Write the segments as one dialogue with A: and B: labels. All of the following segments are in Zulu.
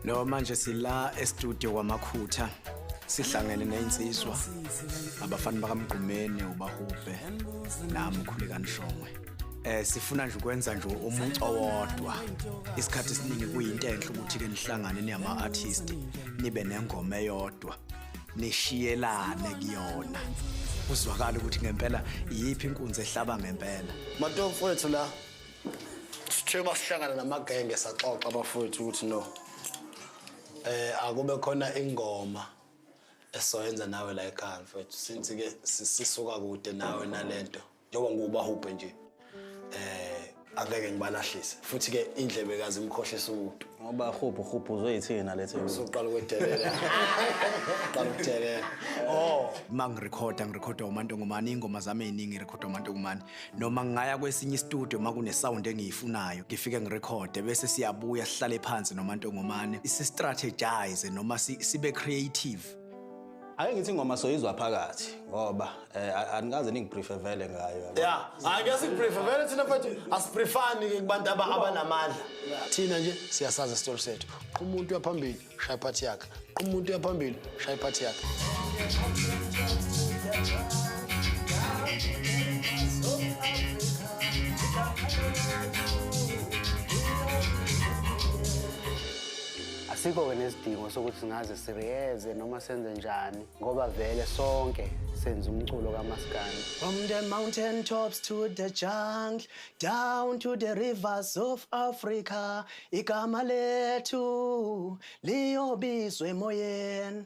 A: No manje sila e-studio kwamakhutha sihlangene nezinsizwa abafana bakamgqumeni ubahubhe nami ukhuleka nishongwe eh sifuna nje ukwenza nje umuntu owodwa isikhathi esiningi kuyinto enhle ukuthi ke nihlangane niyama artist nibe nengoma eyodwa nishiyelane kuyona kuzwakala ukuthi ngempela iyiphi inkunzi ehlaba ngempela mato mfowethu la
B: sithe masihlangana namagenge saxoxa abafowethu ukuthi no eh akube khona ingoma esoyenza nawe la ekhaya mfowethu since ke sisuka kude nawe nalento njengoba ngiwubahubhe nje eh angeke ngibalahlise futhi ke indlebe kazi imkhohlisa umuntu ngoba hubhu hubhu
C: uzoyithina lethe uzoqala ukwedelela
B: qala ukudelela oh mangirecorda
A: ngirecorda umanto ngomani ingoma zami eziningi ngirecorda umanto ngomani noma ngaya kwesinye istudio makune sound engiyifunayo ngifike ngirecorde bese siyabuya sihlale phansi nomanto ngomani si strategize noma sibe creative Ake
C: ngithi ingoma soyizwa phakathi ngoba eh, anikaze ningiprefer vele ngayo. Yeah, hayi ke
B: siprefer vele thina mfethu asiprefani ke kubantu abanamandla. Thina nje siyasaza isitori sethu. Umuntu uyaphambili shaya party yakhe. Umuntu uyaphambili shaya party yakhe.
D: Asikho-ke nesidingo sokuthi singaze sireyeze noma senze njani ngoba vele sonke senza umculo kamaskandi. From the mountain
A: tops to the jungle down to the rivers of Africa igama lethu liyobizwa emoyeni.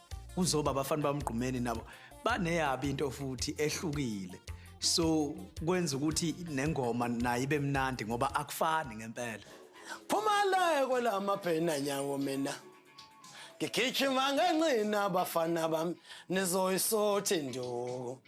A: kuzoba abafana bamgqumeni nabo baneyabi into futhi ehlukile so kwenza ukuthi nengoma nayo ibe mnandi ngoba akufani ngempela phuma la
B: kwelamabhena nyawo mina ngigijima ngenqina abafana bami nizoyisothi nduku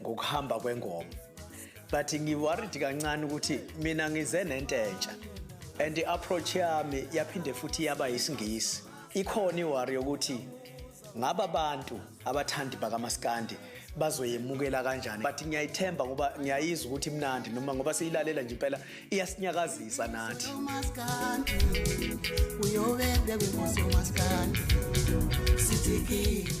A: ngokuhamba kwengoma but ngiworried kancane ukuthi mina ngize nento entsha and i-approach yami yaphinde futhi yaba yisingisi ikhona iwari yokuthi ngaba bantu abathandi bakamaskandi bazoyemukela kanjani but ngiyayithemba ngoba ngiyayizwa ukuthi imnandi noma ngoba siyilalela nje impela iyasinyakazisa nathi
E: uyobe bekumosi umaskandi sithikile